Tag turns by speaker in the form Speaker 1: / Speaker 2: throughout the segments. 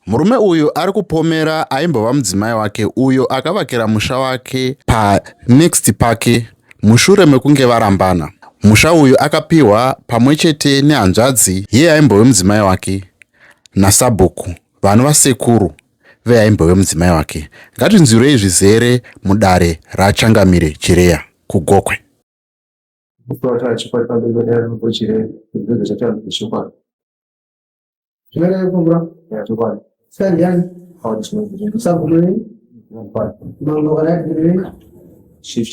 Speaker 1: Murume uyu ari kupomera aimbova mudzimai wake uyo akavakira musha wake panext pake mushure mekunge varambana. Musha uyu akapiwa pamwe chete nehanzvadzi yeye aimbove mudzimai wake nasabhuku vanova sekuru vee aimbove mudzimai wake ngatinzwirei zvizere mudare rachangamire chireya kugokwe Shift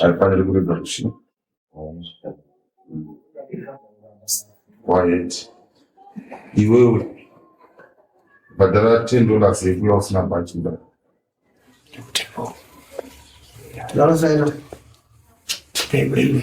Speaker 2: haifaniri kuregwa kushi quiet iwewe bhadhara ten dollars yekuya usina bhachi nda ndakasaina Thank you.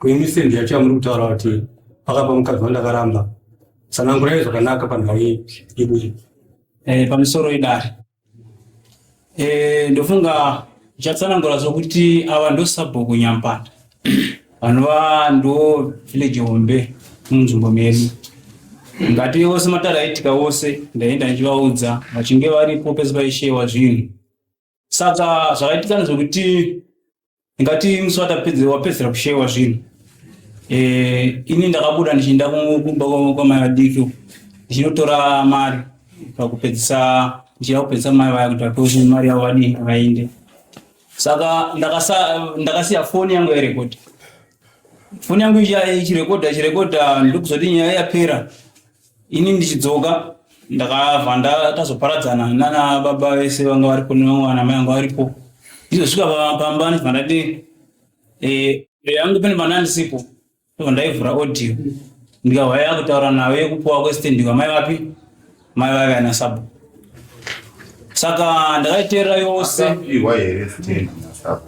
Speaker 3: Kwenyu sendi yacho yamuri kutaura kuti pakapa mukadzi wandakaramba sanangurai zvakanaka panhau yedu iyi eh, pamisoro idare eh, ndofunga ichatsanangura zvokuti ava ndosabhuku nyampanda vanova ndo village hombe munzvimbo medu ngati ose matara aitika ose ndaenda ndichivaudza vachinge varipo pese paishewa zvinhu saka zvakaitika ndezvekuti ingati musi watapedze- wapedzera kushewa zvinhu Eh, ini ndakabuda ndichienda ku- kumba kwa- kwamai vadiki uko, ndichinotora mari pakupedzisa ndichida kupedzisa mai vaya kuti vapewe kuti mari yavo vadii vainde saka ndakasa- ndakasiya foni yangu yairekodha foni yangu ichi- ichirekodha ichirekodha ndokuzoti nyaya yapera ini ndichidzoka ndakabva ndatazoparadzana nana baba vese vanga varipo nevana mai vanga varipo ndizosvika pamba ndibva ndati eh, yangu pane vana ndisipo ndibva ndaivhura audio ndikahwa yakutaura nayo yekupuwa kwestand kwamai vapi mai vave ana sabo saka ndakaiteerera yose Akapihwa here stand naSabo?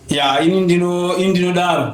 Speaker 3: ya ini ndino ini ndinodaro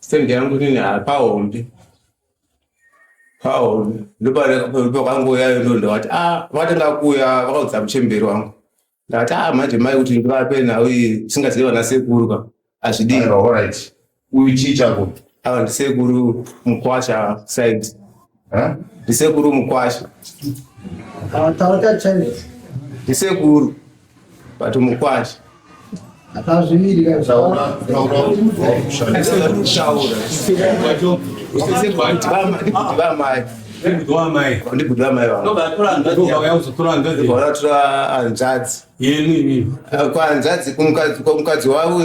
Speaker 2: Stand yangu
Speaker 4: nini hapahombe. Pahombe. Ndopakangouya ndo ndavati ah vakatanga kuuya vakaudza muchemberi wangu. Ndavati ah manje mai kuti ndivape nhau iyi singazivi vana sekuru ka. Hazvidii. Aiwa, all right.
Speaker 2: Uyu chii chako? Ava ndisekuru
Speaker 4: mukwasha side. ndisekuru mukwasha ndisekuru but mukwasha vamai ndikudiwamaivatora hanzvadzi kwanzvadzi kumukadzi wavo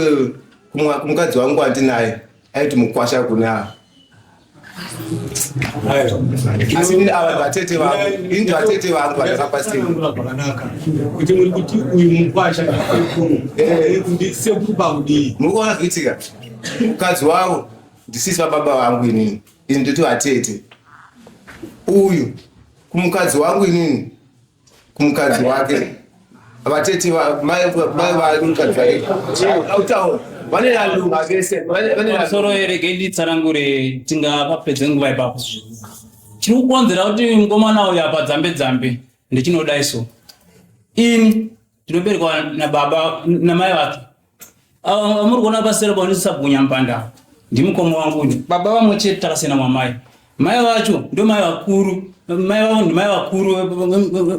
Speaker 4: kumukadzi wangu wandinaye aiti mukwasha kune ava asi ini ava vatete vangu ini vatete vangu vandakapa seakanaka
Speaker 5: kuti muri kuti uyu mukwasha eh. sekuru pakudii muri kuona kuitika
Speaker 4: mukadzi wavo ndisisi vababa vangu inini ini ndoti vatete uyu kumukadzi wangu inini kumukadzi wake vatete mai vake mukadzi wake autaura vane nalo vese vane nalo soro erege
Speaker 3: nditsanangure tingapa pedze nguva ipapo chiri kukonzera kuti mukomana uyu apa dzambe dzambe ndichinodai so ini tinoberekwa nababa namai vake amuri kuona pasera paonisisabhunya mpanda ndimukoma wangu uyu baba vamwe chete takasiyana mwamai mai vacho ndo mai vakuru mai vavo ndimai vakuru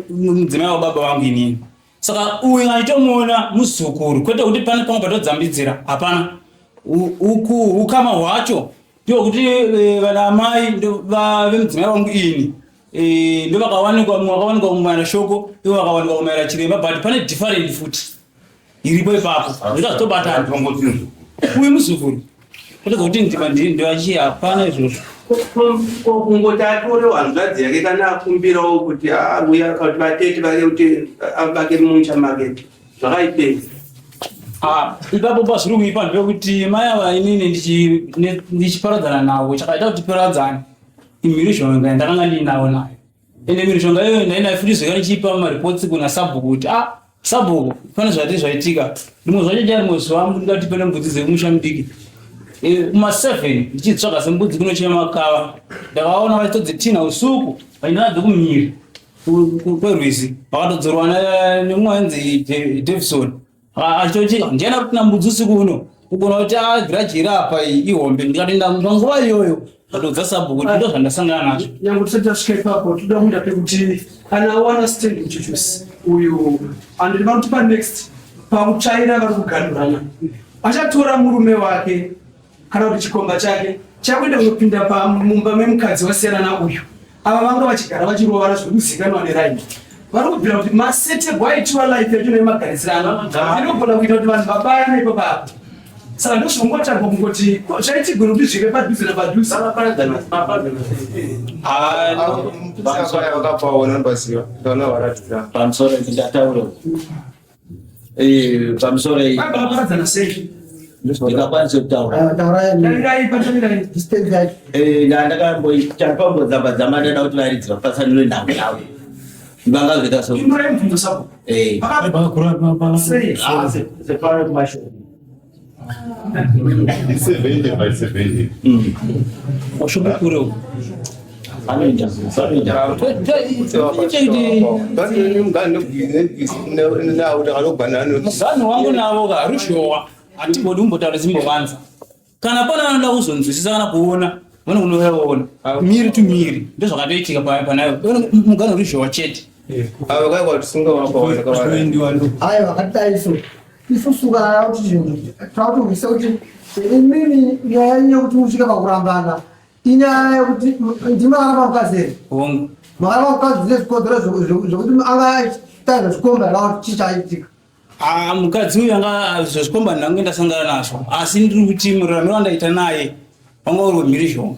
Speaker 3: mudzimai wababa vangu inini saka uyu aitomuona muzukuru kwete kuti pane pamwe patodzambidzira hapana ukama hwacho ndokuti eh, vana amai vemudzimai wangu ini Eh, ndo vakawanikwa mumwe wakawanikwa kumaira shoko ivo vakawanikwa kumaira chiremba but pane different futi iripo ipapo ndikazotobatana uyu muzukuru kutoza kuti ndiva ndivachi hapana izvozvo
Speaker 6: kungoti atore hanzvadzi yake kana akumbirawo kuti auya ah, kuti vatete vake kuti avake mumusha make zvakaipei
Speaker 3: ah, ipapo pazviri kuipa ndepekuti mai ava inini ndichiparadzana navo chakaita kuti paradzane mhirizhonga yandakanga ndiinawo nayo ende mhirizhonga iyoyo ndainayo futi zvekare chiipa mareports kuna sabhuku kuti ah sabhuku pane zvati zvaitika rimwe zvacho cha rimwe zuva ndingati pane mbudzi dzekumusha mudiki Eh, kuma seven ndichitsvaga sembudzi kunochera makava ndakaona vachitodzitinha usuku vainadzo kumhiri ku- ku- kwerwizi vakatodzorwa na- nemumwe ainzi Je- davison Ah, achitoti ndiana kuti nambudzi usiku uno kugona kuti agiraji iri apa iyi ihombe ndikati ndamva nguva iyoyo ndatoudza sabhuku kuti ndo zvandasangana nazvo nyange tisati tasvika ipapo
Speaker 7: toda kuenda pekuti kana awana stand muchuchusi uyu and ndinoda kuti panext pakutsvaira vari kuganhurana achatora murume wake kana kuti chikomba chake chakuenda kunopinda pamumba memukadzi wasiyanana uyu ava vanga vachigara vachirovana zviri kuzikanwa neraini vari kubvira kuti maseterwo aitiwa life yacho nemagarisirano inogona kuita kuti vanhu vabayane ipo papo saka ndozvongotanga kungoti zvaitigona kuti zvive padhuze napadhuze pamusoro
Speaker 4: ndataura
Speaker 8: Eh, pamusoro iyi. Vanoparadzana sei? ndikakwanisa kutaura ndakamboita pambodzamba dzamba ndada kuti varidzi vapatsanure nhau yavo vangazoita so
Speaker 3: Seventy by seventy. Washobo kure uko. Anoita anoita. Mugani wangu navo ka ruzhowa hatibodi kumbotaura zimbovanza. Kana pana vanoda kuzonzwisisa kana kuona vane kunoona miri to miri ndozvakatoitika pa- panayo mugani ruzhowa chete. Ava kai
Speaker 4: kwatisinga wakaona kawana.
Speaker 9: Ayo akadai so. isusu kana yava kuti chinhu tavakuhwisa kuti imimi nyaya yenyu yekuti musvika pakurambana inyaya yekuti ndimakaramba mukadzi here hongu makaramba mukadzi dzine zvikonzero zveku- zveku- zvekuti anga aitaizva zvikomba here kana kuti chii chaitika Ah, mukadzi
Speaker 3: uyu anga zvazvikomba ndange ndasangana nazvo asi ndiri kuti mururame wandaita naye wanga uri wemhirizhonga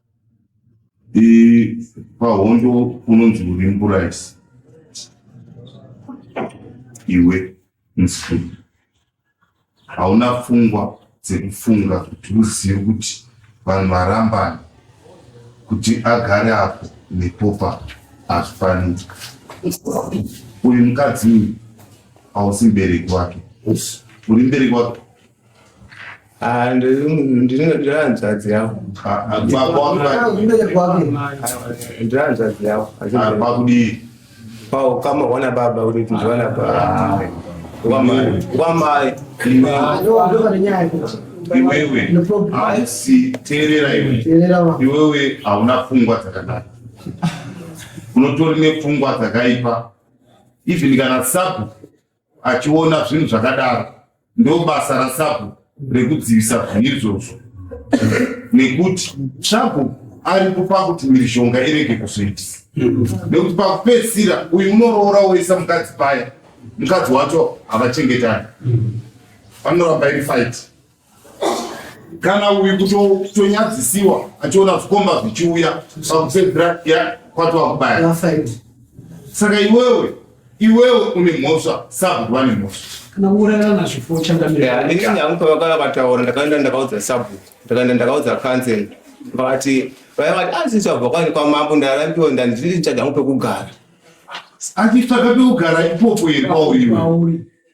Speaker 2: pahondo unonzi uri mburaisi iwe mfumi hauna pfungwa dzekufunga kuti uzive kuti vanhu varambani kuti agare apo nepopa hazvifaniri uyu mukadzi uyu hausi mbereki wake uri mbereki wake Ah, ndiri
Speaker 4: hanzvadzi yavo ndiri hanzvadzi yavo pakudii
Speaker 2: paukama
Speaker 4: wana baba kuti tindiwana baba wamai iwewe
Speaker 2: hausi teerera iwe iwewe hauna pfungwa dzakanaka unotori nepfungwa dzakaipa even kana sabu achiona zvinhu zvakadaro ndobasa rasabhuku rekudzivisa zvinhu izvozvo nekuti sabhuku ari kupa kuti mhirizhonga irege kuzoitisa nekuti pakupedzisira uyu unoroora woisa mukadzi paya mukadzi wacho havachengetani panoramba iri faiti kana uyu kutonyadzisiwa achiona zvikomba zvichiuya pakupedzira kwatova kubaya saka iwewe iwewe une mhosva sabhuku vane mhosva kana kuurayana
Speaker 7: nazvipo chandamiraaangu pavakava
Speaker 4: vataura ndakaenda ndakaudza sabhuku ndakaenda ndakaudza council vakati vaya vati asisi ah, vabva kwani kwamambo ndarambiwa ndandiri chadangu pekugara
Speaker 2: achitsvaga pekugara ipopo here kwauriwe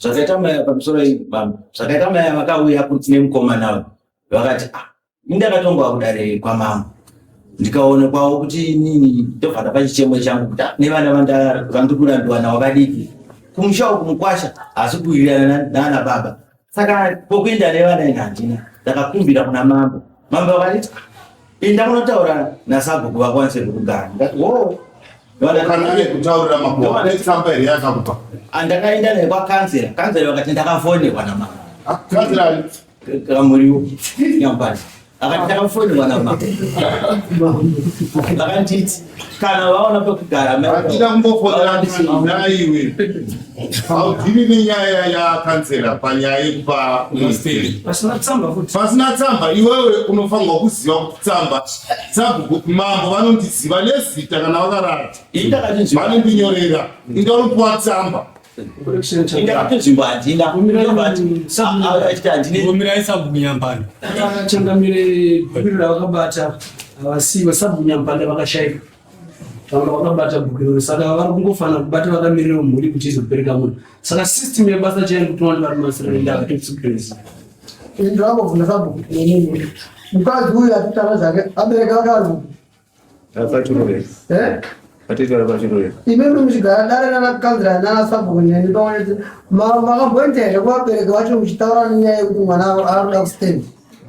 Speaker 4: zvakaita mai
Speaker 8: ava pamusoro bambo zvakaita mai ava vakauya kuti nemukomana uyu vakati ah indakatonga kudare kwamambo ndikaona kwavo kuti nini ndobva ndapa chichemo changu kuti ah, nevana vandiri kurambiwa navo vadiki kumusha uku mukwasha hasi kuwirirana nana baba saka pokuenda nevana ini handina ndakakumbira kuna mambo mambo vakati ah, Pinda munotaura nasabhuku vakwanise kukugara. Ndati wo
Speaker 2: kana ane kutaurira makuwa ne tsamba here yakakupa. Andakaenda naye kwa
Speaker 8: kansera. Kansera vakati ndakafonerwa na mama. Ah, kansera
Speaker 2: kamuriwo
Speaker 8: nyambani. Akati ndakafonerwa na mama. Vakanditi kana vaona pekugara handina kumbofonera
Speaker 2: naiwe haudhiri nenyaya yakansera panyaya yekupa musteri
Speaker 7: pasina tsamba iwewe
Speaker 2: unofanirwa kuziva kuti tsamba sabhuku mambo vanondiziva nezita kana vakarara vanondinyorera inga unopiwa tsamba
Speaker 7: avasivo sabunyampanda vakashaika vanga vakabata bhuku iroro saka vari kungofanira kubata vakamirira mhuri kuti izobereka munhu saka system yebasa chai kuti wani vari masirendaaexipense ndakuvhuna sabhuku nemunhu mukadzi uyu atitana
Speaker 9: zvake abereka akaruku imimi muchigara dare nanakanzira nanasabhuku neni pamwe neti makambonita here kuvabereki vacho muchitaura nenyaya yekuti mwana anoda kustendi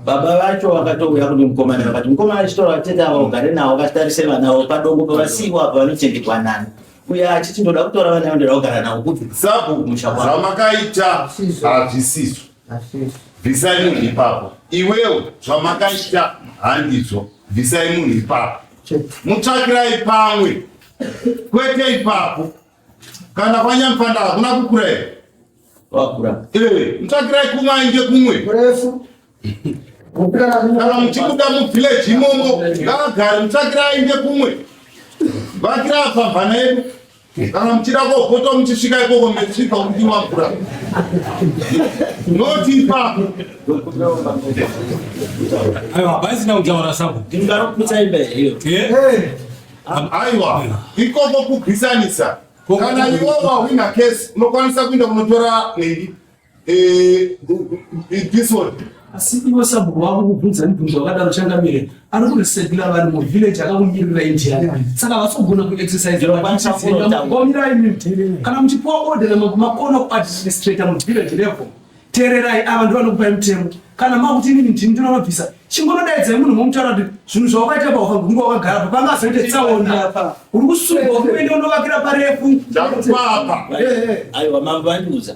Speaker 9: baba vacho
Speaker 8: vakatouya kune mukomana vakati mukomana achitora vatete ava ugare navo vatarise vana vo padongo pavasiiwa apa vanochengetwa nani uye achiti ndoda kutora vana vo ndoda kugara navo kuti sabhuku musha kwavo
Speaker 2: zvamakaita hazvisizvo bvisai munhu ipapo iwewo zvamakaita handizvo bvisai munhu ipapo mutsvakirai pamwe kwete ipapo kana kwanyamupanda hakuna kukura here
Speaker 8: eh, mutsvakirai
Speaker 2: kumwe ainge kumwe kana muchibuda muvhileji imomo ngaagare mutsvakirai ainge kumwe vakira pamhana yedu Kana muchida kopota muchisvika ikoko mechisvika kudiwa mvura. Notipa.
Speaker 5: Aiwa, baisi na utaura sabo. Ndingaro kutsa imbe
Speaker 8: hiyo. Eh? eh. Aiwa,
Speaker 2: ikoko kubisanisa. Kana iwo wawina case, unokwanisa kuinda kunotora nhingi. asi
Speaker 7: iwe sabhuku wako kubvunza mibvunzo wakadaro changamire ari kuresekila vanhu muvhileji akakumirira indiana saka havasi kugona kuexerciseomirai kana muchipiwa odera makona kuadministrata muvhileji level teererai ava ndovanokupai mutemo kana makuti inini ndini ndinovabvisa chingonodaidzai munhu momutaura kuti zvinhu zvawakaita paufa kunge wakagara pa panga azoite tsaona uri kusunga kuende unovakira parefu aiwa
Speaker 2: mambo
Speaker 8: vandiudza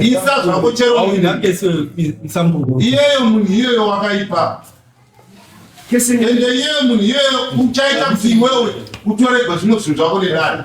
Speaker 2: isa zvako chero iyeyo munhu iyeyo wakaipa ende iyeyo munhu iyeyo uchaita kuti iwewe utoregwa zvimwe zvinhu zvako nedare